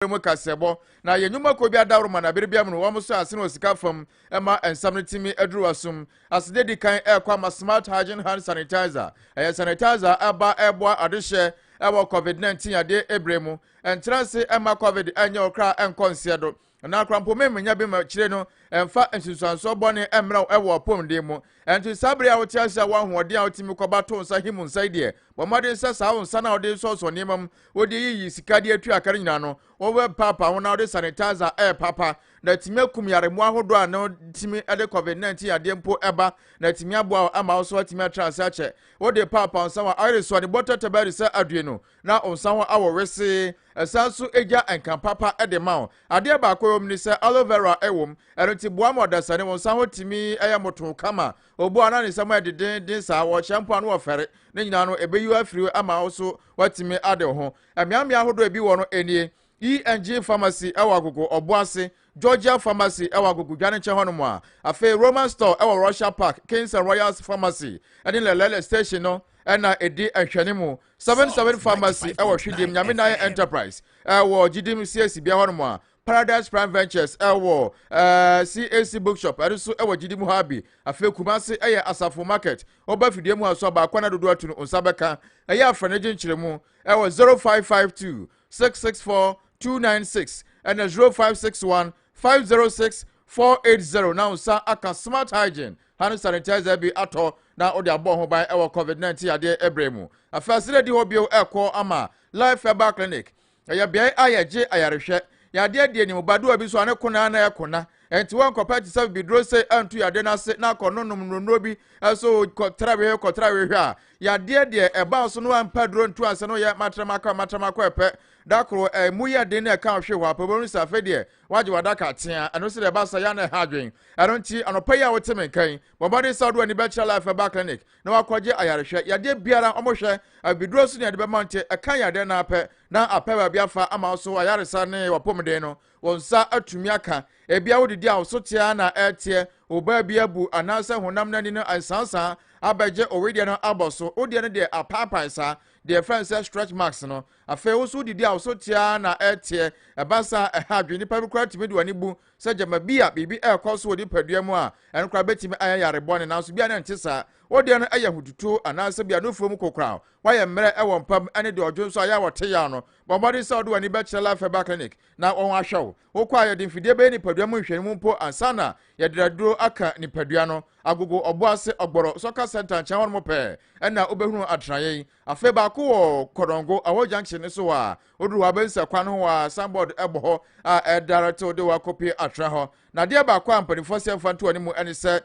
ɔyɛ mu kaseɛbɔ, na yɛ nnwuma kɔ bi adaworoma na bere biara mu no wɔn so asene wɔ sika fam ma nsam no tumi aduru w'asom. Aseda edi kan ɛrekɔ ama Smart Hygiene Hand Sanitizer. Ɛyɛ sanitizer a ɛba ɛreboa adehyɛ ɛwɔ Covid 19 yadeɛ ɛbire mu. Ɛntra ase ɛmma Covid ɛnyɛ wo kra ɛnkɔ nseɛ do. Na korampomem nya bi ma akyire no ɛmfa nsunsuansoɔ bɔne ɛmmra wo ɛwɔ w'apɔmuden mu. Ɛnti saa bere a wote ase a wo ahoɔden a wotumi kɔba to nsa him nsa yi deɛ, bɔ mmɔden sɛ saa wo nsa no a wode resɔɔsɔ nneɛma mu, wode reyiyi sika de atua ka no nyinaa no, wobɛpaapa ho na wode sanitizer repaapa. Na atumi akum yaremmoa ahodoɔ a na tumi de covid 19 yadeɛ mpo ba, na atumi aboa wo ama wo so atumi atra ase akyɛ. Wode paapa wo nsa ho a, ayere so a ne bɔtɛtɛ bɛyere sɛ adue no, na ɔnsa ho awɔ wesee, ɛsan nso gya nka papa de ma wo. Adeɛ baako ɛwɔ mu ne sɛ aloe vera ɛwɔ mu, ɛno nti boa ma ɔdasani wo nsa ho tumi yɛ motoo kama. Obu anaa ne nsam ayɛ dedenden saa, wɔhyɛ mpo a na wɔfɛre, ne nyinaa no ɛbɛyi wo afiri hɔ ama wo nso woatumi ade wo ho. Mmeammea ahodoɔ a ebi wɔ no nie, ENG Pharmacy ɛwɔ Agogo ɔbo ase, Georgia Pharmacy ɛwɔ Agogo Dwanenkyɛ hɔnom a afei Roman Store ɛwɔ Russia Park, Kings and Royals Pharmacy ɛne Lelele Station no na ɛdi nhwɛne mu seven seven pharmacy ɛwɔ hwidim nyame na ayɛ enterprise ɛwɔ gyidim cac bia hɔnom a paradise prime ventures ɛwɔ ɛɛ cac bookshop ɛno nso ɛwɔ gyidim hɔ abi afei kumase ɛyɛ asafo market ɔba fidie mu aso aba akɔna dodo atu no nsa bɛka ɛyɛ afra ne gye nkyerɛ mu ɛwɔ zero five five two six six four two nine six ɛna zero five six one five zero six four eight zero na nsa aka smart hygiene Hand sanitizer bi atɔ na ɔde abɔ ho ban wɔ COVID-19 yadeɛ berɛ mu. Afei asɛre adi hɔ bio rekɔ ama Life Herbal Clinic. Ɛyɛ beae a yɛgye ayarehwɛ. Yadeɛ deɛ nim, badoa bi so a ne ko no ara na ɛkona. Ɛnti wɔnkɔpɛ te sɛ bibiduro sei antu yadeɛ no ase na akɔ nonom nnuro bi so kɔ trawehe kɔ trawehe a yadeɛ deɛ ɛbaa so no ampa duro ntu ansa na ɔyɛ matramakɔ a matramakɔ ɛpɛ da koro ɛmu yɛ den na ɛka ɔhwe hɔ apɛ wɔn sɛ afei deɛ Wagye w'adaka atea. Ɛno sɛ deɛ ɛba sa yɛ na ɛha adwen. Ɛno nti, anɔpa yi a wote me nka yi, bɔ mmɔden sɛ wode w'ani bɛkyerɛ Life Herbal Clinic na wakɔgye ayarehwɛ. Yadeɛ biara wɔn hwɛ, abibiduro so ne yɛde bɛma nti, ɛka yadeɛ no ara pɛ na apɛ baabi afa ama wo so ayaresa ne w'apɔmuden no, wo nsa atumi aka. Ebia wodidi a wo so te ara na ɛreteɛ, wo baabi abu anaasɛ honam no ani no asasaa abɛgye wo wedeɛ no abɔ so. Wo deɛ no deɛ apaapae saa, deɛ yɛfrɛ no sɛ stretch marks no. Afei wo nso wodidi a, wo so te ara na ɛteɛ. Ɛba saa a, ɛha adwene. Nipa bi koraa tumi de w'ani bu sɛ gyama bi a biribi rekɔ so wɔ nipadua mu a ɛno koraa betumi ayɛ yare bɔne, nanso bi a na ɛnte saa. Wo deɛ no yɛ ahotutuo anaasɛ bi a nufoɔ mu kokoram. Woayɛ mmerɛ wɔ mpa mu ne deɛ ɔdwo nso a ɛyɛ a wɔte yaw no. Bɔ mmɔden sɛ wode w'ani bɛkyerɛ Life Herbal Clinic na wɔahwɛ wo. Wokɔ a, yɛde mfidie bɛyɛ nipadua mu nhwɛanimu mpo ansa na yɛde aduro aka nipadua no. Agogo, Ɔboase, Ɔgbɔrɔ, Soccer Centre nkyɛn hɔnom pɛɛ na wobɛhunu atenaeɛ yi. Afei baako wɔ Kodongo, Awɔ junction no so a woduru hɔ a wobɛhu sɛ kwan no ho a signboard bɔ hɔ a ɛdirect wo de wo akɔpue atena hɔ. Na adeɛ baako a mpanimfoɔ sɛ mfa nto wɔn mu ne sɛ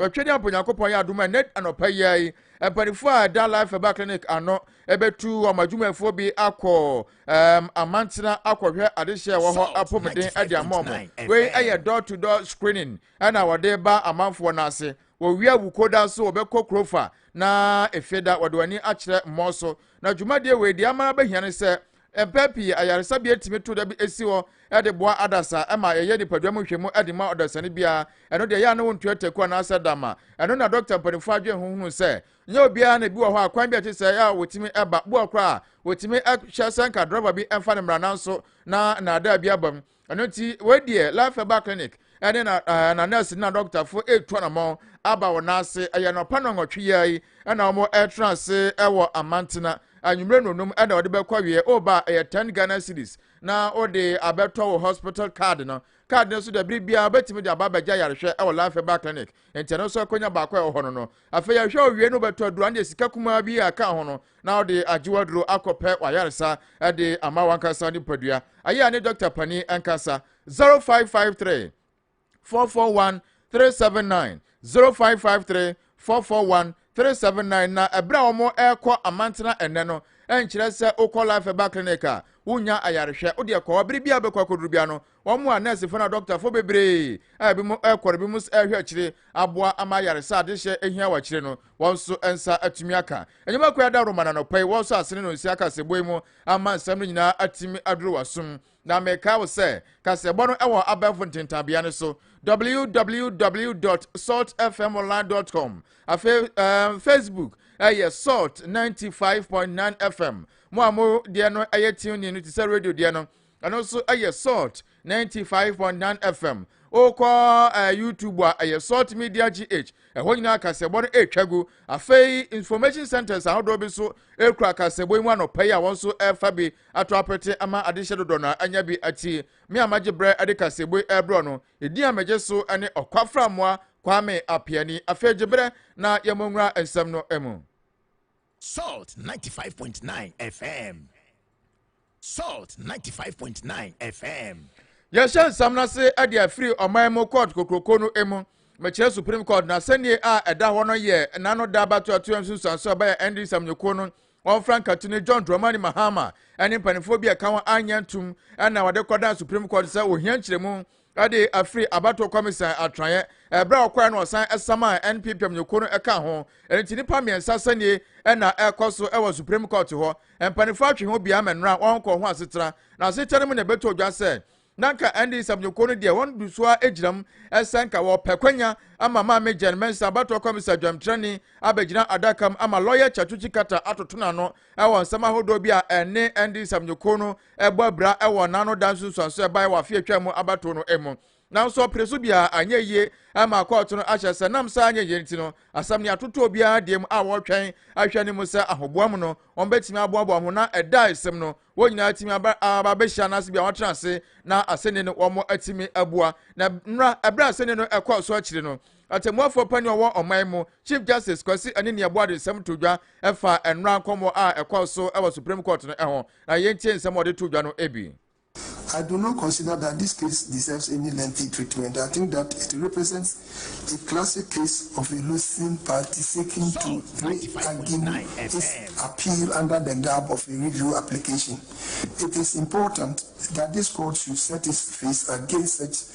Twɛdeɛ mpo Nyankopɔn yɛ adom a nnɛ anɔpa yi ara yi mpanimfoɔ a ɛda Life Herbal Clinic ano bɛtu wɔn adwumayɛfoɔ bi akɔ um, amantena akɔhwɛ adehyeɛ ɛwɔ hɔ apɔmuden de ama wɔn. Wei yɛ door to door screening ɛna wɔde ba amanfoɔ no ase. Wɔwia Wukoda so wɔbɛkɔ Krofa na Efeda wɔde wɔn ani akyerɛ Mmɔɔ so. Na dwumadie wei deɛ ama abɛhia ne sɛ, mpɛn pii ayaresabea tumi to da bi si hɔ de boa adasa ma yɛyɛ nipadua mu nhwɛmu de ma ɔdasani biara. Ɛno deɛ ɛyɛ a na wɔntua taku anaasɛ dama. Ɛno na dɔkta mpanimfoɔ adwene ho hunuu sɛ nyɛ obiara na ebi wɔ hɔ a kwan bi a ɛte sɛɛ a wɔtumi ba boa koraa a wɔtumi hyɛ sɛ nka drɔba bi mfa ne mmara nanso na nnaadaa bi abam. ɛno nti wei deɛ life herbal clinic ɛne na ɛɛ eh, na nurse na dɔktafo etu anamɔn aba wɔn ase ɛyɛ nɔpa na nwɔtwe yɛ yi ɛna wɔn ɛtena ase ɛwɔ amantena anwummerɛ nonum ɛna wɔde bɛkɔ wiɛ ɔba oh, ɛyɛ ten ghana series na wɔde abɛtɔ wɔ hospital card no card no so dɛ bere biara bɛtumi de aba abɛgya yarehwɛ ɛwɔ life herbal clinic nti ɛno nso akɔnya baako a ɛwɔ hɔ no no Afei ahwɛ owiei no wobɛtɔ aduru andeɛ sika kumaa bi a ka ho no na wode agye w'aduro akɔ pɛ w'ayaresa de ama w'ankasa nipadua. Ayɛ a ne dɔkta panin nkasa. 0553 441 379 0553 441 379 Na ɛberɛ a wɔn ɛrekɔ amantena ɛnɛ no ɛnkyerɛ sɛ wokɔ life ɛba clinic a wonya ayarehwɛ wodeɛ kɔ hɔ bere bi a wobɛkɔ akɔduru bia no Wɔn a nɛɛsefo na dɔktafo bebree a ebinom rekɔ na ebinom nso rehwɛ akyire aboa ama ayaresa a adehyeɛ hia wɔ akyire no, wɔn nso nsa atumi aka. Nnwuma Kuraa da Roma no anɔpa yi, wɔsɔ asene no nsia kaseɛbɔ yi mu ama nsɛm no nyinaa atumi aduru w'asom. Na mekae wo sɛ, kaseɛbɔ no wɔ abɛɛfo ntentanbea no so, www.saltfmonline.com. Afei um, Facebook ɛyɛ Salt 95.9 FM. Mo a mo deɛ no ɛyɛ tuning no te sɛ radio deɛ no, Ɛno nso yɛ Salt 95.9 FM. Wokɔ eh, YouTube a ɛyɛ Salt Media GH. Ɛhɔ nyinaa kasɛbɔ no ɛretwa gu. Afei information centers ahodoɔ bi nso ɛkura kasɛbɔ yi mu anɔpa yi a wɔn nso ɛrefa bi ato apete ama adehyɛ dodoɔ no anya bi ati. Me a magye berɛ de kasɛbɔ yi ɛrebrɛ no, ɛdin a megye so ne Ɔkwafra Mmoa Kwame Apeani. Afei gye berɛ na yɛmmɔ nwura nsɛm no mu. Salt 95.9 FM. Salt 95.9 FM. yɛhyɛ nsɛm no ase de afiri ɔman mu court kokuroko no mu mekyerɛ supreme court na sɛnnie a ɛda hɔ no yɛ n'ano da abatoatoa nsunsuanso a ɛbɛyɛ ɛnde nsɛmnyɛkuo no wɔmfra nkate no john dramani mahama ne mpanimfoɔ bi a ɛka ho anyɛ ntom na wɔde kɔdan supreme court sɛ ohia nkyerɛmu de afiri abatoɔ Kwamisan atenaeɛ. Ɛberɛ a ɔkɔeɛ no ɔsan samaa NPP amanyɔkuo no ka ho. Ɛno nti nnipa mmiɛnsa sɛnie na ɛrekɔ so wɔ Supreme Court hɔ. Mpanimfoɔ atwe ho biara ma nnora wɔnkɔ ho asetena. Na asetena no mu na ɛbɛtɔ dwa sɛ na nka NDC amanyɔkuo no deɛ wɔn so ara gyina mu sɛ nka wɔpɛ kwanya ama Maame Jane Mensah abatoɔ Kwamisan dwamtrani abɛgyina adaka mu ama lɔya Kyatuchi Kata atoto n'ano wɔ nsɛm ahodoɔ bi a ɛne NDC amanyɔkuo no ɛbɔ abira wɔ n'ano da nsunsuanso a ɛbae wɔ afe a atwam mu abatow no mu. Nanso ɔpere so biara anyɛ yiye amma kɔɔto no ahyɛ sɛ nam saa anyɛ yiye nti no, asɛm nea atoto obiara deɛ mu a wɔretwɛn ahwɛ no mu sɛ ahoboa mu no, wɔbetumi aboaboa ho na ɛda a esem no, wɔn nyinaa atumi aba aba abehyia anaase bia wɔatena ase na aseni no wɔatumi abua. Na ɛbra ɛbere a aseni no ɛkɔɔ so akyiri no, Ɔtɛmmuafoɔ panin a ɔwɔ ɔman mu, Chief Justice Kwasi Anini-Abuah de nsɛm too dwa fa nnora nkɔmmɔ a ɛkɔɔ so wɔ Supreme Court no ho, na yɛntie nsɛm a ɔde too dwa no bi. I do not consider that this case deserves any lengthy treatment. I think that it represents a classic case of a losing party seeking to re-argue its appeal under the garb of a review application. It is important that this court should set its face against such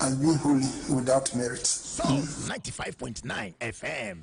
I win holy without merit. Soul 95.9 FM.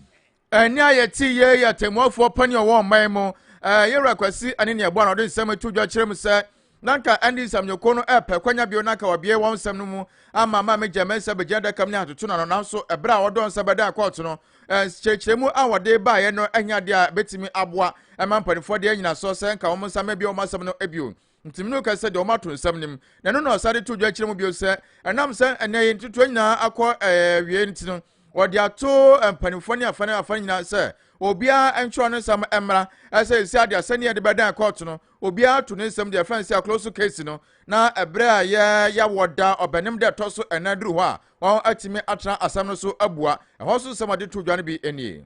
ɛne a yɛte yie yɛ tɛmmuafoɔ pani a ɔwɔ ɔman mu yɛwura kwasi ɛne ne ɛboa na ɔde nsɛm ato dwa kyerɛ mu sɛ na nka ɛne nsɛmnyɛkuo no ɛpɛ kwanya bio na nka wɔbie wɔn nsɛm no mu ama ma megya mɛ nsɛ bɛgyina daka mu ne atoto no ano nanso ɛberɛ a wɔdɔ nsɛ bɛda kɔɔto no kyerɛkyerɛmu a wɔde baeɛ no anya adeɛ a bɛtumi aboa ɛma mpanimfoɔ deɛ nyina soɔ sɛ nka wɔn nsa mɛ bi wɔn asɛm no bio Ntimene no ka sɛ deɛ wɔato nsɛm no mu, na ɛno na ɔsan de to dwa kyerɛ mu bio sɛ ɛnam sɛ ɛnɛ yi ntotoɔ nyinaa akɔ awie eh, nti no wɔde ato eh, mpanimfoɔ ne afa ne afa nyinaa sɛ obiara ntwerɛ ne nsɛm mmra ɛsɛ ɛsi adeɛ sɛdeɛ yɛde bɛdan kɔɔto no obiara to ne nsɛm deɛ ɛfɛn sɛ akolo so kesi no na ɛberɛ a yɛ yɛwɔ da ɔbɛnem dɛ ɛtɔ so ɛnan duru hɔ a wɔn atumi atena asɛm no so abua ɛhɔ so nsɛm a de to dwa no bi nie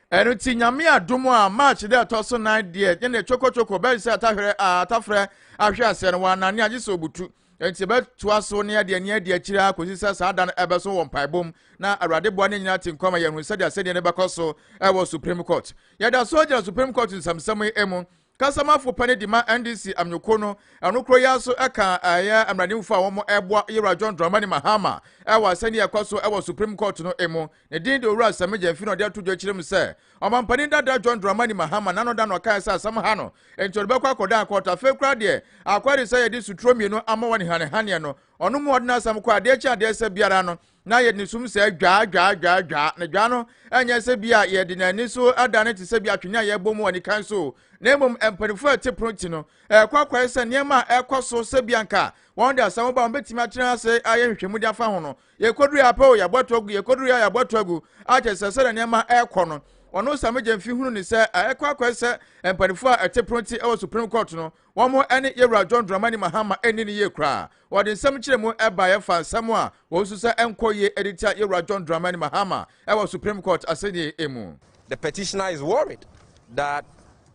ɛno nti nyame adom a march dɛ ɛtɔ so nan deɛ yɛn deɛ chokochoko bɛyɛ sɛ atahwerɛ atafrɛ ahwɛ aseɛ no wɔanane agye sɛ obutu nti bɛtoa so ne adeɛ ne adeɛ akyire akɔsi sɛ saa da no ɛbɛso wɔ mpaebom na awurade boa ne nyinaa te nkɔma yɛn ho sɛdeɛ asɛdeɛ no bɛkɔ so ɛwɔ supreme court yɛda so gyina supreme court nsɛmsɛm yi mu Kasamafo pani de ma NDC amanyɔkuo no ɛno koro yi ara nso ka ɛyɛ mmaranimfo a wɔn ɛboa Yewura John Dramani Mahama ɛwɔ asɛnni ɛkɔ so ɛwɔ Supreme Court no emu. Ne din de Owura Sami Gyamfi na ɔde ato dwa akyire mu sɛ Ɔmanpanin dada John Dramani Mahama n'ano da na ɔkaeɛ sɛ asɛm ha no enti ɔde bɛkɔ akɔdan court. Afei koraa deɛ akɔyɛ de sɛ yɛde suturo mmienu ama wɔn hanihaneɛ no ɔno mu ɔde n'asɛm kɔ adeɛ kye adeɛ sɛ biara no na yɛde ne sum sɛ dwaa dwaa dwaa dwaa, na dwaa no ɛnyɛ sɛ bi a yɛde na ani so ada no te sɛ bi atwene a yɛbɔ mu wɔ nikan so, na mmom mpanimfoɔ a ɛte pono ti no ɛkɔ akɔyɛ sɛ nneɛma a ɛkɔ so sɛ bi anka wɔn de asɛm ba wɔn bɛtumi atena ase ayɛ nhwehwɛmu de afa ho no yɛkɔduru yɛ apɛ o yɛabɔ ato agu yɛkɔduru yɛ yɛabɔ ato agu akyɛ sɛ sɛdeɛ nneɛma ɛkɔ no ɔno samegye mfi hunu ne sɛ ɛkɔ akɔyɛ sɛ mpanimfoɔ a ɛte pono ti ɛwɔ supreme court no Wɔn ne Yewura John Dramani Mahama anni no yie koraa. Wɔde nsɛm nkyerɛmu baeɛ faa nsɛm a wɔsusu sɛ ɛnkɔ yie de tia Yewura John Dramani Mahama wɔ Supreme Court asɛnnie mu. The petitioner is worried that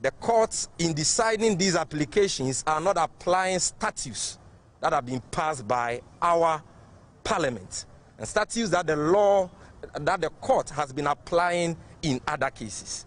the courts in deciding these applications are not applying statutes that have been passed by our parliament and statutes that the law that the court has been applying in other cases.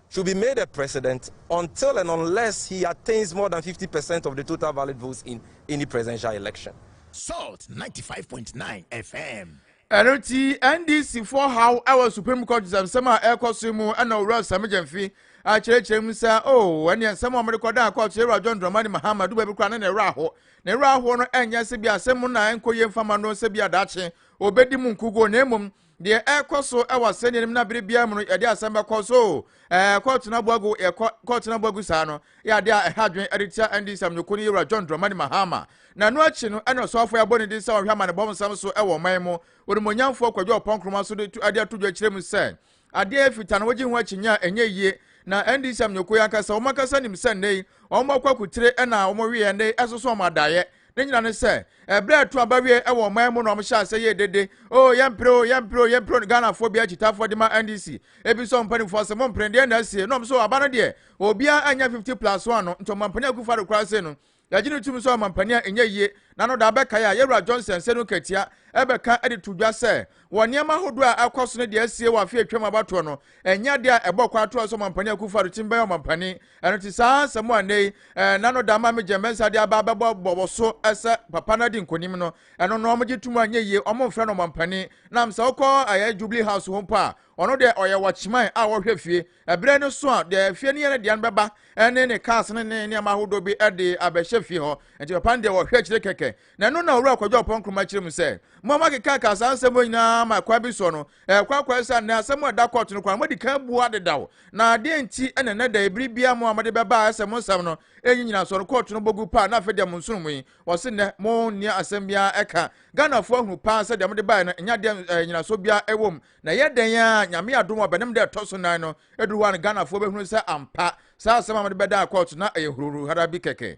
should be made a president until and unless he attains more than fifty percent of the total valid votes in any presidential election. Salt ninety five point nine FM. ɛno nti ndc foɔ haw ɛwɔ supreme court nsɛm a ɛrekɔ so mu ɛna owura sami gyɛnfi akyerɛkyerɛ mu sɛ o oh, ɛne nsɛm a wɔde kɔda court yɛ ewura john dramani mahama duba bi kora ne na ɛwerɛ aho na ɛwerɛ ahoɔ no ɛnyɛ sɛ bi asɛm mu na ɛnkɔ yie mfama no sɛ bi adakye obedi mu nkuguo na mmom deɛ ɛrekɔ so wɔ asɛnniɛ no mu na bere biara mu no yɛde asɛm bɛkɔ so ɛɛ kɔɔto no aboagu yɛkɔ kɔɔto no aboagu saa no yɛ adeɛ a ɛha adwene ɛde tia ɛndi nsɛm nyoko no yɛwura John Dramani Mahama na ɛno akyi no ɛna ɔsɔfo ɛbɔ ne din sɛ ɔhwɛ amanebɔ nsɛm so ɛwɔ ɔman mu onimonyamfoɔ Kwadwo Ɔpɔn Nkrumah so de tu ɛde ato dwa kyerɛ mu sɛ adeɛ yɛ fitaa no wɔgye ho akyinnye a ɛnyɛ yie na ɛndi nsɛm nyoko yɛ ankasa wɔn ankasa nim sɛ nnɛ yi wɔn akɔ akutire ɛna wɔn weɛ nnɛ ɛsoso wɔn adaeɛ Ne nyina ne sɛ, ɛberɛ a ɛto aba wie wɔ ɔman mu na wɔn hyɛ asɛ yɛ dede, oo yɛmpere oo, yɛmpere oo, yɛmpere oo, Ghanafoɔ biara kyitaafoɔ de ma NDC, ɛbisa wɔn mpaninfoɔ sɛ mo mpere, deɛn na asie, na wɔn so aba no deɛ, obiara annya 50 plus one no, nti Ɔmampanin Akufo Addo koraa sei no, yɛgye no tum sɛ Ɔmampanin a ɛnyɛ yie, na no da abɛkae a Yɛwura Johnson Senu Nkatia ɛbɛka de to dwa sɛ, wɔ nneɛma ahodoɔ a ɛrekɔ so ne deɛ asie wɔ afe a atwam abatoɔ no, ɛnyɛ adeɛ a ɛbɔ kwaatoa sɛ Ɔmampanin Akufo Addo tumi bɛyɛ Ɔmampanin. Ɛno nti saa nsɛm a nnɛ yi na no da ma me gyɛn bɛnsa de aba bɛbɔ bɔwɔ so sɛ papa no adi nkonim no, ɛno no wɔgye tom a nyɛ yie, wɔmfrɛ no ɔmampanin. Nam sɛ wokɔ ɛyɛ Jubilee House hɔ mpo a, ɔno deɛ ɔyɛ watchman a ɔhwɛ fie. Ɛberɛ no so a deɛ fie no yɛ no deɛ no bɛba ne ne cars ne ne nneɛma ahodoɔ bi de abɛhyɛ fie hɔ. Nti papa no deɛ ɔhwɛ akyire kɛkɛ. Na ɛno na Owura Kwadwo Ampɔn Nkrumah kyerɛ mu sɛ, mo a moakekaka saa nsɛm wɔ nyinaa ma kwan bi soɔ no, ɛkɔ akɔyɛ sɛ anɛ asɛm a ɛda kɔɔto no kwan no moadi kan abua dedaw. Na deɛn nti na ɛnnɛ da yi bere biara mo a mode bɛba a ɛyɛ sɛ mo nsɛm no nyi nyinasoɔ no kɔɔto no bɔ gu paa na afei deɛ mo nsono mu yi, wɔse nnɛ mo nni asɛm biara ɛka? Ghanafoɔ ahunu paa sɛ deɛ mode baeɛ no nnya deɛ ɛɛ nyinasoɔ biara ɛwɔ mu. Na ɛyɛ dɛn ara a, Nyame adom a bɛnam da a ɛtɔ so nan no ɛduru hɔ a no Ghanafoɔ bɛhunu sɛ ampa saa asɛm a mode bɛdaa kɔɔto na ɛyɛ huruhuruhara bi kɛkɛ.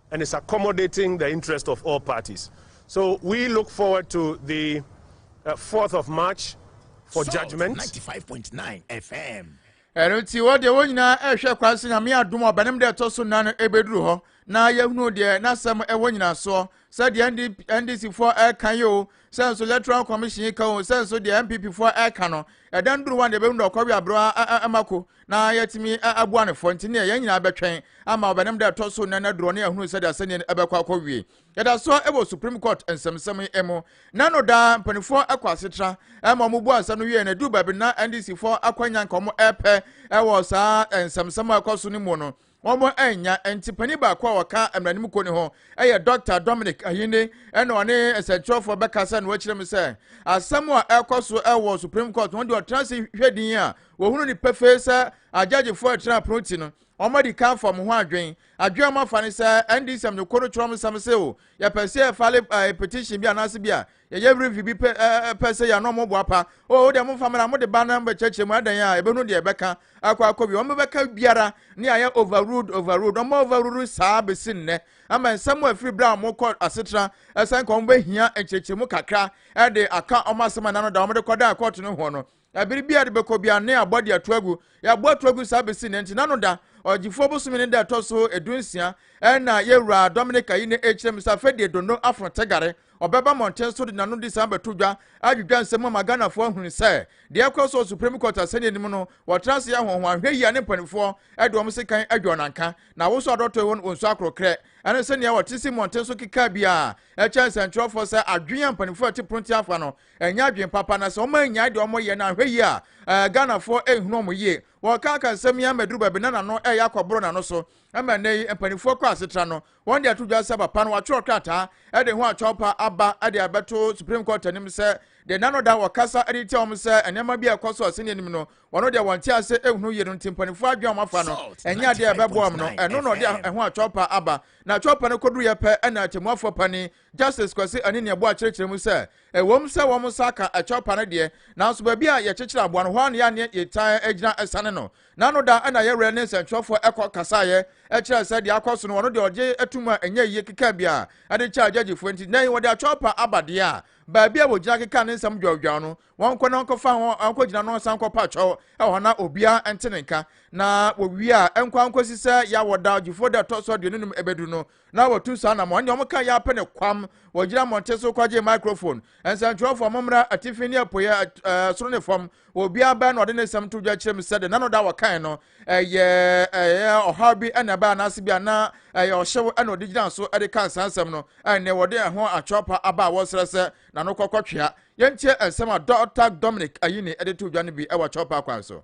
and is accommodating the interest of all parties so we look forward to the uh, 4th of march for Salt judgment 95.9 fm ɛno nti wɔ deɛ wɔn nyinaa ɛrehwɛ kwan sɛ nyame adom ɔbɛnem deɛ ɛtɔ so nnan no ɛbɛduru hɔ na yɛhunu deɛ n'asɛm ɛwɔ nyinasoɔ sɛ deɛ ndc foɔ ɛka yi o sɛ nso electoral commission yi ka o sɛ nso deɛ npp foɔ ɛka no ɛdan duru hɔ a deɛ ɛbɛhunu deɛ ɔkɔwe aberɛ ɛma ko na yɛatumi abua no fɔ nti neɛ yɛn nyinaa bɛtwɛn ama ɔbɛnam da ɛtɔ so nnɛ no aduro ne ahunu sɛdeɛ asɛnniɛ no ɛbɛkɔ akɔ wie yɛda so wɔ supreme court nsɛmsɛm yi mu na no daa mpanimfoɔ kɔ asetra ma wɔn bu asɛm no wie na ɛduru baabi na ndc foɔ akwanya nka wɔn ɛpɛ wɔ saa nsɛmsɛm a ɛkɔ so no mu no wɔn annya nti panyin baako a ɔka mmaranim kuo no ho yɛ dɔkta dominic ayinde ɛna ɔne nsɛnkyerɛfoɔ bɛkasa na wɔakyerɛ mu sɛ asɛm a ɛkɔ so wɔ supreme court wɔn de ɔtena ase hwɛ din a wɔhunu no pefee sɛ agyagyefoɔ ɛtena apono ti no wɔn adi kan fam ho adwen adwen wɔn afa no sɛ ndc amanyɔkuo no kyerɛ wɔn nsɛm sɛ o yɛpɛ sɛ yɛfale eh, petition bi anaasɛ bi a yɛyɛ were mfe bi pɛ ɛɛ pɛ sɛ yɛn ɔmo boapa o oh, deɛ mo nfa mra mo de ba na mo bɛ kyerɛkyerɛ mu adan a ebɛnu deɛ ɛbɛka akɔ akɔ bi ɔmo bɛka biara ne ayɛ overruled overruled ɔmo overruled saa besi nnɛ ama nsɛm afiri bere a ɔmo kɔ asetena ɛsɛn ka ɔmo bɛhia nkyerɛkyerɛ mu kakra ɛde aka ɔmo asɛm a nano da ɔmo de kɔ dan kɔɔto no ho no Na bere biara de bɛkɔ biara ne abɔ de ato agu. Yɛabɔ ato agu saa besi nnɛ nti. N'ano da, Ɔgyefoɔ bosome ne da ɛtɔ so edunsia, ɛna Yɛwura Dominik ayi ne ekyirem sɛ afei deɛ Dondo Afro Tegare, ɔbɛba mmɔnten so de n'ano de saa abɛto dwa, adwidwa nsɛm ama Ghanafoɔ ahunu sɛ deɛ ɛrekɔ so wɔ Supreme Court asɛnniɛ no mu no, wɔtra ase yɛ ahohoahwɛ yie a ne mpaninfoɔ de wɔn sekan adwa wɔn anka. Na awosoɔ adɔtɔɛ wɔn wɔn su akorɔkrɛ ɛne sɛdeɛ wɔte si mmɔnten so kekaa biara kyɛn sɛnkyerɛwfoɔ sɛ adwene a mpaninfoɔ a ɛte prontia afa no ɛnyɛ adwene papa na sɛ wɔn annyae deɛ wɔn yɛ no anhwɛ yie a ɛɛ Ghanafoɔ ɛnhunu wɔn yie wɔkanka nsɛm yi ama duru baabi na n'ano ɛyɛ akɔboro n'ano so ɛma nnɛ yi mpanimfoɔ kɔ asetra no wɔn de ato dwa sɛ papa no watwerɛ krataa ɛde ho atwawpa aba ɛde abɛto Supreme Court anim sɛ deɛ n'ano da wɔkasa ɛde tia wɔn sɛ nneɛma bi a ɛkɔ so ɔsɛnni anim no wɔn deɛ wɔn te ase ɛnhunu yie no nti mpanimfoɔ adwene wɔn afa no ɛnyɛ adeɛ ɛbɛboa wɔn no ɛno na ɔde ɛho atwawpa aba na atwawpa no kɔduruyɛ pɛ ɛna atemmuafoɔ panin Justice Kwasi Anini-Aboah kyerɛkyerɛ mu sɛ, Ɛwom sɛ wɔn nsa aka ɛkyɛw pa no deɛ, nanso baabi a yɛkyekyere aboa no, hɔ ara na yɛn ne yɛtaa gyina sane no. N'ano da na yɛn werɛ ne nsɛntwerɛfoɔ kɔ kasaeɛ kyerɛɛ sɛ deɛ akɔ so no, wɔn deɛ wɔgye tom a ɛnyɛ yie keka biara de kyɛɛ gyɛgyefoɔ nti, nnɛ yi wɔde akyɛw pa aba deɛ a baabi a wɔgyina keka ne nsɛm dwawdwaw no, wɔnkɔ na wɔnkɔfa ho ankɔgyina na wɔnsan nkɔpa kyɛw wɔ hɔ na obiara nte ne nka. Na wɔwie a, ɛnkɔ ankɔsi sɛ yɛawɔ da, Gyefoɔ da ɛtɔ so aduonu num ɛbɛduru no, na wɔtu saa anammɔn ne wɔn ka yɛ apɛ ne kwam wɔgyina mmɔnten so kɔgye microphone nsɛntwerɛfoɔ mommra atifi ne apueɛ soro ne fam obiara bɛn na ɔde ne nsɛm to dwa kyerɛ mu sɛ de nano da wɔkan no ɛyɛ ɛyɛ ɔhaw bi ɛna ɛbɛyɛ anaase bi ana ɛyɛ ɔhyew ɛna ɔde gyina so ɛde ka nsa nsɛm no ɛne wɔde ɛho atwerɛpa aba a wɔsrɛ sɛ nano kɔkɔtwea yɛntie nsɛm a dɔta dominic ayini ɛde to dwa no bi ɛwɔ atwerɛpa kwan so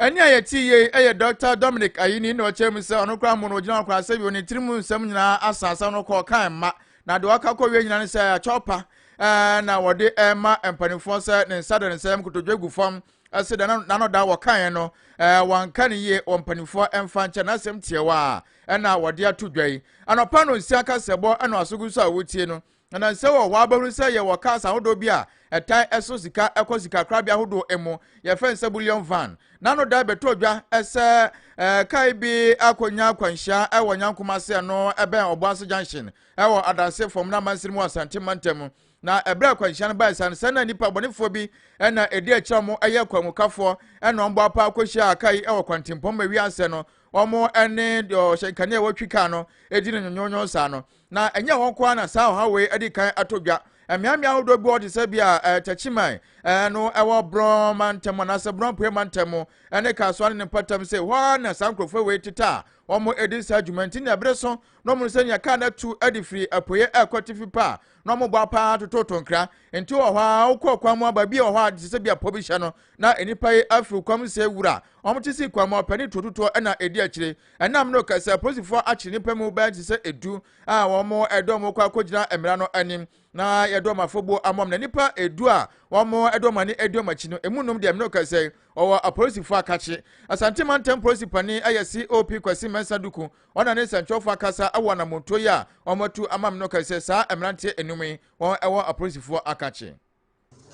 Ɛnne a yɛte yei yɛ Dɔkta Dominic Ayine na ɔkyerɛ mu sɛ ɔno koraa mmo no ogyina hɔ koraa sɛ bio ne tirim nsɛm nyinaa asa asɛm no kɔ kan mma na deɛ ɔka kɔ wie nyinaa ne sɛ akyɔpa ɛɛ na wɔde ɛma mpanimfoɔ sɛ ne nsa da ne nsɛm kotodwe gu fam ɛsɛ dɛ n'anoda wɔ kan no ɛɛ wɔnka ne yie wɔ mpanimfoɔ ɛmfa nkyɛ n'asɛm tiɛwa a ɛna wɔde ato dwa yi anɔpa no nsia kasɛbɔ ɛna asogu so a wotie no Ɛnam sɛ wɔ hɔ ara bɛhunu sɛ yɛwɔ cars ahodoɔ bi a ɛtae so sika kɔ sikakorabea ahodoɔ mu, yɛfrɛ no sɛ bullion van, na ano dae bɛtɔ dwa sɛ kae bi akɔnya akwanhyia wɔ Nyankom ase ɛno ɛbɛn Ɔboase Junction wɔ Adanse fam no amansini mu wɔ Asante mantam. Na ɛberɛ a akwanhyia no bae saa no, sɛ na nnipa bɔnefoɔ bi na ɛdi akyire a wɔn yɛ kwamukafoɔ na wɔn bɔ apaa kɔhyiaa kae yi wɔ kwantempɔn ma wiase no wɔn ne deɛ ɔhyɛ nkanea a wɔtwi kaa no di no nyonyoonyon saa no. Na ɛnyɛ hɔ nko ara na saa ɔhaw wei adi kan atɔ dwa. Mmeammea ahodoɔ bi wɔ hɔ te sɛ bia eh, Takyiman eh, no ɛwɔ Borɔn mantam anaasɛ Borɔn Apueɛ mantam mu ne Kasoa ne ne mpatam sɛ hɔ ara na saa nkurɔfoɔ wei tete a wɔn ɛdi saa adwuma nti na ɛbere so na wɔn sɛ nea kaa no atu adi firi apueɛ ɛrekɔ atifi pa a na wɔn bɔ paa tototo nkra nti wɔ hɔ a wokɔ kwan mu aba bi wɔ hɔ a te sɛ bia pɔ bi hyɛ no na nnipa yi afiri kwan mu sɛ wura wɔn te si kwan mu ɔpɛ ne tuotutoɔ ɛna ɛdi akyire Ɛnam no kɛ sɛ polisifoɔ akye nnipa mu bɛyɛ te sɛ edu a wɔde wɔn kɔ akɔgyina mmara no anim na yɛde wɔn afɔbuo amam na nnipa edu a wɔde wɔn ani adi wɔn akyi no emu nom deɛ mmerɛ kɛ sɛ ɔwɔ apolisifoɔ akakye asante mantam polisi panin ɛyɛ cop kwasi mɛnsa duku ɔna ne nsɛntwerɛfoɔ akasa ɛwɔ anamontuo yi a wɔatu ama mmerɛ kɛ sɛ saa mmeranteɛ enum yi wɔn ɛwɔ apolisifoɔ akakye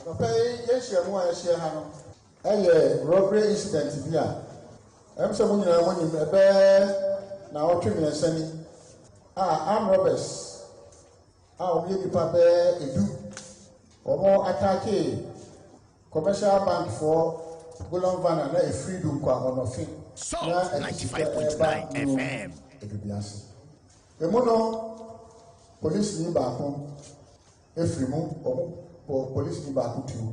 Anɔpa yi yɛn nhyiamu a yɛahyia ha no. Ɛyɛ robbery incident bi a ɛwom sɛ mo nyinaa mo nim, ɛbɛyɛ naawɔtwe mmiɛnsa ni a armed robbers a wɔn yɛ nnipa bɛyɛ edu wɔn ataakee commercial bank foɔ golon van a na efiri du nkwa ɔnɔfe na ɛsika ɛba mu edubiase emu no polisi ni baako. firi mu, wɔbɔ polisini baako tuo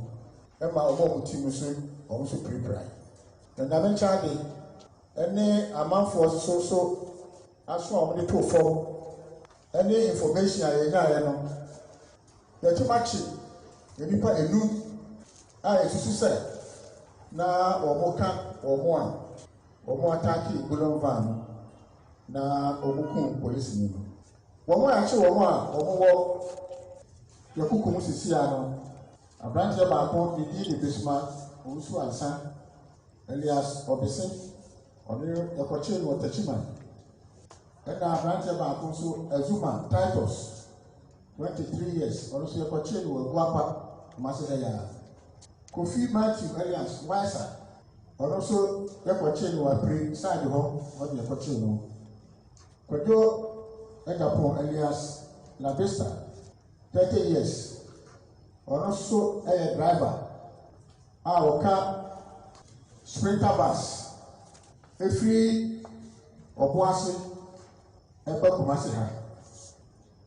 ma wɔn a wɔte mu nso, wɔn nso pirapirae. Na Nyame nkyɛn ade ne amanfoɔ nso so aso a wɔde too fam ne information a yɛnyaeɛ no, yɛatim akye nnipa enum a yɛsusu sɛ na wɔka wɔn a wɔataake Gulon Van no na wɔkum polisini no. Wɔn a ɛkye wɔn a wɔwɔ Yakuku mu sisi a no, abranteɛ baako ne din de Bisma Owusu Ansa alias Ɔbese, ɔno yɛkɔkyee no wɔ Takyiman. Ɛna abranteɛ baako nso Azuma Titus, 23 years, ɔno nso yɛkɔkyee no wɔ Aguapa, Kumase ha yi ara. Kofi Matthew alias Waisa, ɔno nso yɛkɔkyee no wɔ Apire side hɔ, hɔ na yɛkɔkyee no. Kwadwo Dapoh alias Labisa, thirty years, ɔno nso yɛ driver a ɔka Sprinter bus firi Ɔboase ba Kumasi ha,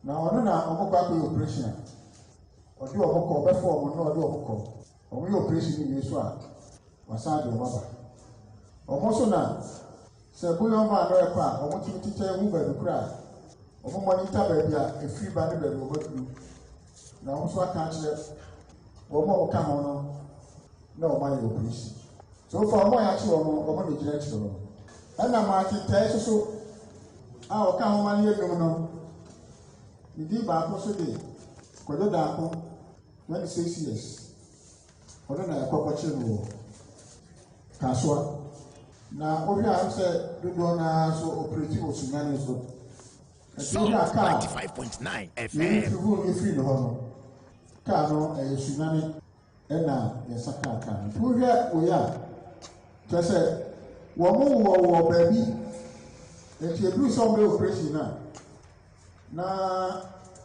na ɔno na wɔkɔ akɔyɛ operation a, ɔde wɔn kɔ, ɔbɛfa wɔn na ɔde wɔn kɔ. Wɔn yɛ operation no wie so a wasan de wɔn aba. Wɔn nso na sɛ bouillon baa no ɛkɔ a wɔn tumi tetɛ ehu baabi koro a wɔn monitor baabi a efiri ba ne baabi wɔn aduru na wɔn nso aka akyerɛ wɔn a wɔka ho no na wɔn ayɛ operation. So far wɔn a yɛakye wɔn no wɔn na gyina akyire wɔn. Ɛna maa tetɛɛ soso a wɔka ho ma no yɛ dum no ne din baako so de kɔdɔ daako. Ná ne six years. Ɔno na ɛkɔ kɔkyere no wɔ Kasoa. Na wohwɛ a sɛ dodoɔ no ara so operate wɔ Sunyani so. Ɛti wohwɛ a kaa yɛn tugu efiri ne hɔ no, kaa no ɛyɛ Sunyani ɛna yɛsa kaa kaa no. Wohwɛ wei a, kyerɛ sɛ wɔn wɔ wɔ baabi, ɛti eduru sɛ wɔn bɛ operate no a. na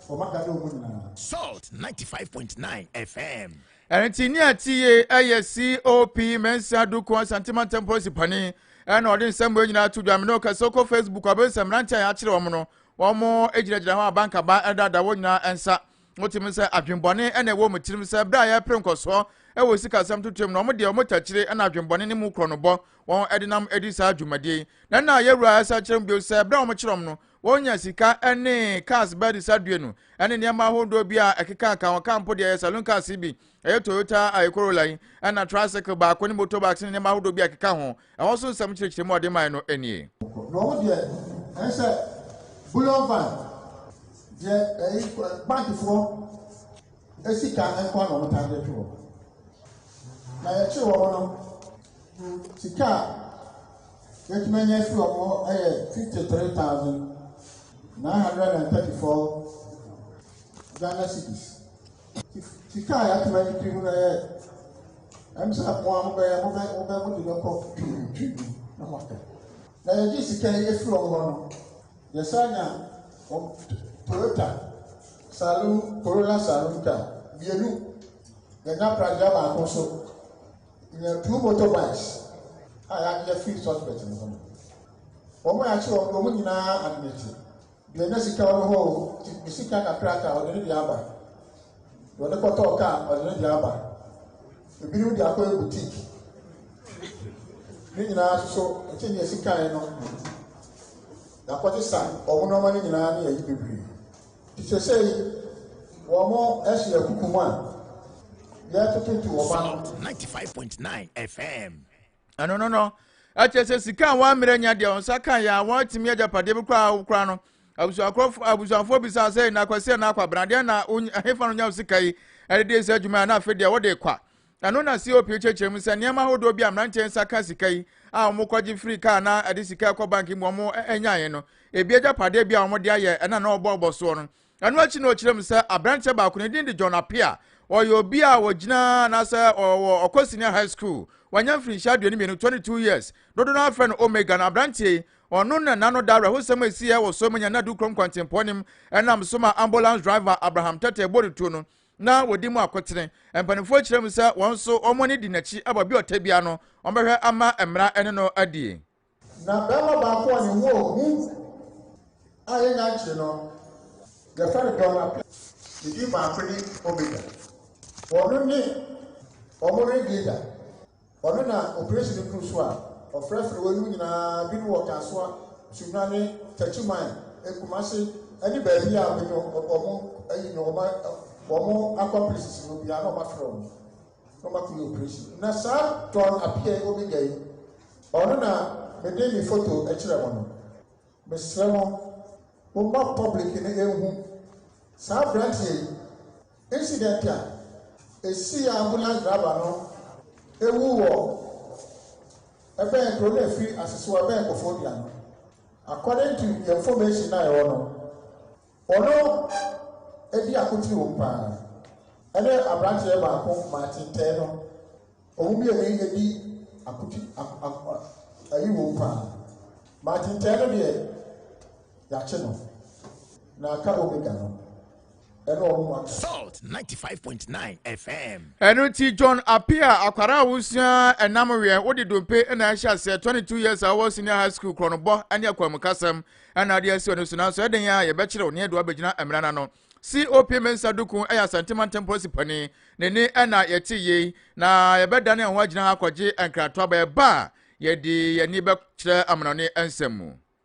wɔn aka dɛ wɔn nyinaa. salt ninety five point nine fm. ɛnti ní àti yie ɛyɛ cop mẹ́nsà dukun asantima ntẹ́mpọ́sì pani ɛna ɔde nsɛm bɔ nyinaa to dwam ne ɔkasa ɔkɔ facebook abɛnsɛm mmeranteɛ a yɛakyerɛ wɔn no wɔn gyinagyina hɔ abankaba ɛdada wɔn nyinaa ɛnsa wotumi sɛ adwembɔne ɛna ɛwɔ mu tirim sɛ berɛ a yɛpere nkɔsoɔ ɛwɔ sikasɛm totoam na wɔn deɛ wɔn takyire ɛna adwembɔne ne mu korɔ no bɔ wɔn ɛdenam ɛdi saa dwumadie na ɛna yɛwura ɛsa kyerɛ mu bio sɛ berɛ a wɔn kyerɛ wɔn no Wɔnya sika ne cars ba de sadue no ne nneɛma ahodoɔ bi a ɛkekaaka wɔn kaa mpo deɛ ɛyɛ saloon cars yi bi ɛyɛ Toyota a Corolla yi ɛna tricycle baako ne motorbikes ne nneɛma ahodoɔ bi a ɛkeka ho ɛhɔ so nsɛm kyerɛkyerɛ mu a ɔde mae no nie. Na wo deɛ ɛsɛ bullion van deɛ ɛyi bankfoɔ esika nkɔ na wɔn taa de to hɔ na yɛkye wɔn no Sika a yɛtumi anya afiri wɔn hɔ yɛ fifty three thousand nine hundred and thirty four Ghana cedis. Sika a yɛatumi anya afiri mu no yɛ ɛm sɛ mo a mobɛyɛ mobɛ mobɛ mode bɛkɔ twitwi mu na moaka. Na yɛgye sika yi afiri wɔn hɔ no yɛsan nya wɔn Toyota saloon Corolla saloon car mmienu yɛnya pragya baako so. Nya two motor bikes a yɛagye afiri suspect no hɔ no. Wɔn a yɛakye wɔn no, wɔn nyinaa admite. Deɛ nya sika wɔ ne hɔ o, nti ne sika kakraka ɔde ne deɛ aba. Deɛ ɔde kɔtɔɔ kaa ɔde ne deɛ aba. Ebinom de akɔyɛ boutique. Ne nyinaa soso nti deɛ sikae no. Yɛakɔgye sa wɔn nneɛma no nyinaa ne yɛyi bebree. Sesei wɔasi akuku mu a yɛretetetete wɔn ano. Salt ninety five point nine FM. Ɛno no no ɛkyɛ sɛ sika a wɔammerɛ nya deɛ wɔn nsa ka yɛ a wɔatumi agyapadeɛ bi koraa a wokora no abusuafoɔ bisaa sɛ na akwasi na akwabena deɛ na hefa no nya sika yi ɛde deɛ sɛ adwuma a na afei deɛ wɔde kwa Ɛno na COP kyerɛkyerɛ mu sɛ nneɛma ahodoɔ bi a mmeranteɛ nsa ka sika yi a wɔkɔgye firi kaa na ɛde sika ɛkɔ bank mu wɔn nyaeɛ no, ebi agyapadeɛ bi a wɔde ayɛ ɛna na wɔbɔɔbɔ soɔ no. Ɛno akyi na ɔkyerɛ mu sɛ aberanteɛ baako ne din de John Appiah, ɔyɛ obi a ɔgyina anaasɛ ɔwɔ Ɔkɔ Senior High School, wanya mfirinhyia aduonu mmienu, 22 years, dodo no ara frɛ no Omega no, aberanteɛ yi, ɔno na n'ano da awerɛhosɛm a ɛsiiɛ wɔ Soemanyanadu kurom kwantempɔn no mu ɛnam so ma ambulance driver Abraham Tetteh bɔ ne tuo no. na wɔdi mu akotene. Mpanimfoɔ kyerɛ mu sɛ wɔn nso wɔn ani di n'akyi wɔ bia ɔtɛ bia no, wɔbɛhwɛ ama mmara ne no adie. Na barima baako a ne ho yɛ hu a yɛnya nkyere no, yɛfrɛ no Don Apɛ. Ne din baako ne Omega. Wɔno ne wɔn Ringleader. Ɔno na opresin no kuru so a ɔfrɛfrɛ weinom nyinaa bi no wɔ Kasoa, Sunyani, Techiman, Kumasi ne baabi a wɔn wɔn ayi no wɔn wɔn accomplices no biara na wɔafrɛ wɔn na wɔakɔyɛ operation. Na saa Don Appiah Omega yi, ɔno na mede ne foto kyerɛ mo no. Mesrɛ mo, momma public no nhu saa aberanteɛ yi Incident a esii a ambulance driver no ewu wɔ ɛbɛn kuro no ɛfiri Asesoɔ ɛbɛn Kofodua no, according to the information na ɛwɔ no, ɔno edi akotiri wɔ mu paa ɛne abranteɛ baako Martin Tɛɛ no, wɔn mmienu edi akotiri ayi wɔ mu paa. Martin Tɛɛ no deɛ, yɛakye no, na aka Omega no. Salt 95.9 FM. ɛno nti john apia akwara a wosua ɛnam wɛn wode dompe na ɛhyɛ aseɛ 22 years a wɔ senior high school korɔnobɔ ne akwamukasɛm ɛna ade asi ɔno so nanso ɛden a yɛbɛkyerɛw ne ɛde wabɛgyina mmara no ano cop mensa duku ɛyɛ asantema ntɛm polisi pani n'ani ɛna yɛte yei na yɛbɛdane ɛho agyina ha akɔgye nkratoaba ɛba a yɛde yɛni bɛkyerɛ amanɔne nsɛm mu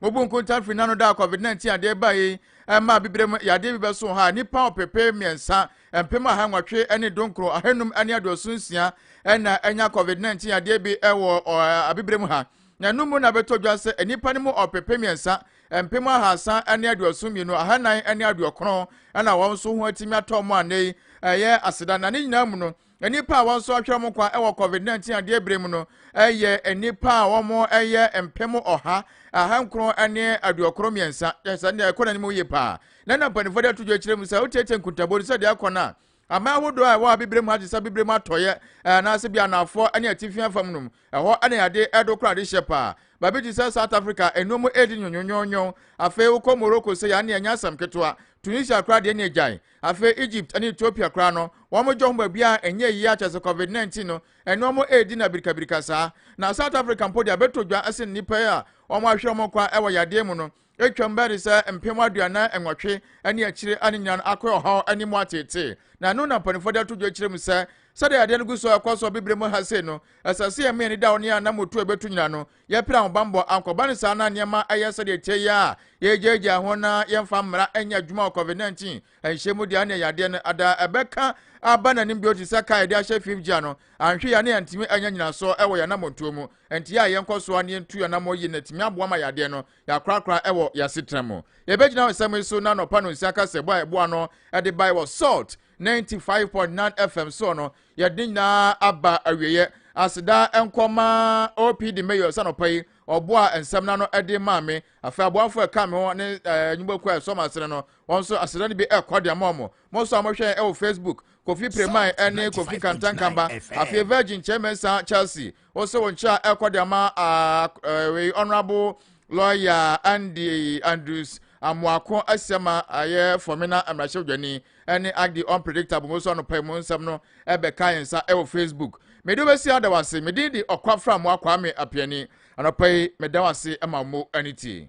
Wobu nkonta firi n'ano da a COVID-19 adeɛ baa yi ɛma abibire mu yadeɛ bi bɛso ha nnipa ɔpepe mmiɛnsa mpem aha nwɔtwe ne donkoro ahanum ne aduoso nsia ɛna ɛnya COVID-19 yadeɛ bi ɛwɔ abibire mu ha na ɛno mu na bɛtɔ dwa sɛ nnipa no mu ɔpepe mmiɛnsa mpem ahasa ne aduoso mmienu ahanan ne aduokron ɛna wɔn nso ho atumi atɔ mu anei ɛyɛ aseda na ne nyinaa mu no Nnipa a wɔasɔhwɛ wɔn nkwa wɔ COVID-19 adeɛ bere mu no yɛ nnipa a wɔyɛ mpem ɔha ahankron ne aduokron mmiɛnsa. Yɛ sɛ nea ɛkɔ n'anim yie paa. Na na mpanimfoɔ de ato dwa akyerɛ mu sɛ wotiatia nkuntabo no sɛ deɛ ɛkɔ no a, aman ahodoɔ a ɛwɔ abibire mu ha te sɛ abibire mu atɔeɛ anaasɛ bi anaafoɔ ne atifi afam no mu Ɛhɔ na yɛade ɛdo kora adehyɛ paa. Baabi te sɛ South Africa, nnuro mu edi nwonwonwonwon. Afei wokɔ Morocco sei a, ɛnneɛ ɛnyɛ asɛm ketewa. Tunisia koraa deɛ ɛnneɛ gyae. Afei Egypt ne Ethiopia koraa no, wɔgye wɔn baabiara a ɛnyɛ yie ara kyerɛ sɛ Covid 19 no, ɛne wɔn redi no abirikabirika saa. Na South Africa mpo deɛ abɛtɔ dwa sen nnipa yi a wɔahwere wɔn kwa wɔ yadeɛ mu no. Atwam bɛyɛ de sɛ mpem aduanan nwɔtwe ne akyire a ne nyinaa no akɔyɛ ɔhaw ne mu ateetee. Na ɛno na mpanimfoɔ de ato dwa kyerɛ mu sɛ, sɛdeɛ adeɛ no gu so rekɔ so wɔ Bibire mu ha sei no, ɛsɛ sɛ yɛma yɛn ani da wɔn a anammɔtu a ɛbɛtu nyinaa no, yɛpere ahobammɔ. Ankɔba no saa na nneɛma ayɛ sɛdeɛ ɛteɛ yi ara a yɛregyaagyaa ho na yɛmfa mmara nyɛ adwuma wɔ COVID-19 nhyɛ mu deɛ, ɛnneɛ yadeɛ no ada ɛbɛka aba n'anim bio te sɛ kaa a yɛde ahyɛ fifth gear no. Anhwɛ yi a na yɛntumi anya nnyinasoɔ wɔ yɛn anammɔntuo mu. Enti yɛ a yɛnkɔ so ara na yɛntu anammɔn yie no atumi aboa ma yadeɛ no Yɛakorakora wɔ yɛn asetena mu. Yɛbɛgyina nsɛm yi so na anɔpa no nsia kasɛbɔ a ɛboa no de bae wɔ Salt 95.9 FM soɔ no, yɛde nyinaa aba awieɛ. Aseda nkɔ ma OPD Mayor sɛ anɔpa yi ɔboa nsɛm no ano de maa me. Afei aboafoɔ ɛka me ho ne nnwumakuo a ɛsɔ mo asene no, wɔn nso aseda no bi ɛkɔ de ama wɔn. Mo nso a mohwɛ yɛn wɔ Facebook, Kofi Preman ne Kofi Kantankamba, afei Virgin Kyerɛ Mensah Chelsea, wɔsɛ wɔn kyerɛ a ɛkɔ de ama wei ɔnorabo lɔya andy andrews amoako asiama ayɛ fɔmina mmarahyɛbadwani ɛne agdi unpredictable mo so anɔpa mu nsɛm no ɛbɛka yɛn nsa ɛwɔ facebook mede wobɛsi ada wase medin de ɔkwa fra mo akwaa me apiani anɔpa yi meda wase ma mo ani tie